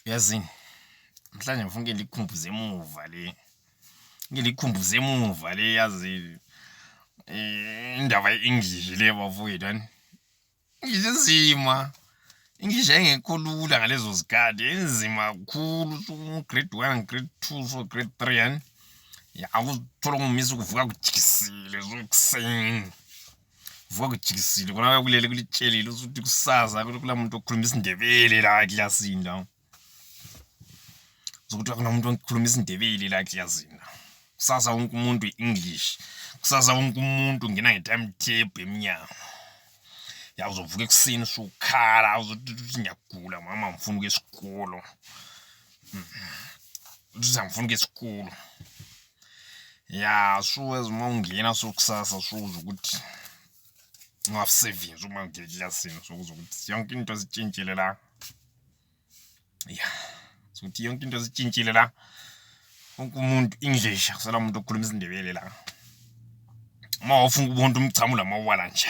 Yazini mhlawumbe ngifuna ke ndikhumbuze emuva le ngilikhumbuze emuva le yazi eh, indaba ye-english le bafowethu ani english enzima english yayingekho lula ngalezo zikhathi enzima kakhulu grade one grade two so grade three ani ya akuthola ungumisa ukuvuka kujikisile zokuseni vuka kujikisile kona kakulele kulitshelile usuthi kusaza kula muntu okhuluma isindebele la eklasini la zokuthi akunomuntu okhuluma isindebele la eklasini la kusasa wonke umuntu i-english kusasa wonke umuntu ngena nge-timetable emnyango ya uzovuka ekuseni usukhala uzothi ngiyagula mama ngifuna ukuya esikolo uthi angifuna ukuya esikolo ya sure as uma ungena so kusasa shuza ukuthi ungasebenzi uma ungena eklasini sokuza ukuthi yonke into sitshintshile la ya sokuthi yonke into sitshintshile la wonke umuntu english akusela umuntu okhuluma isindebele la uma wafuna ukubona umchamo lamawala nje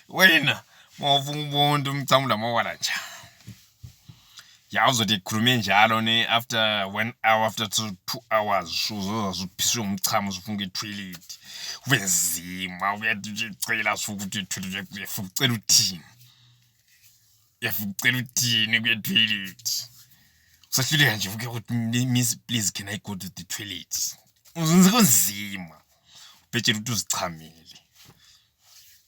wena uma wafuna ukubona umchamo lamawala nje ya uzothi ekhulume njalo ne after one hour after two, two hours uzozazuphiswe ngumchamo uzofunga ithoilet kube nzima uyacela suke uthi ithoilet uyafuka ucela uthini uyafuka ucela uthini kuyethoilet usahluleka nje uke ukuthi miss please can i go to the toilet uzenze kunzima ubhetshela ukuthi uzichamile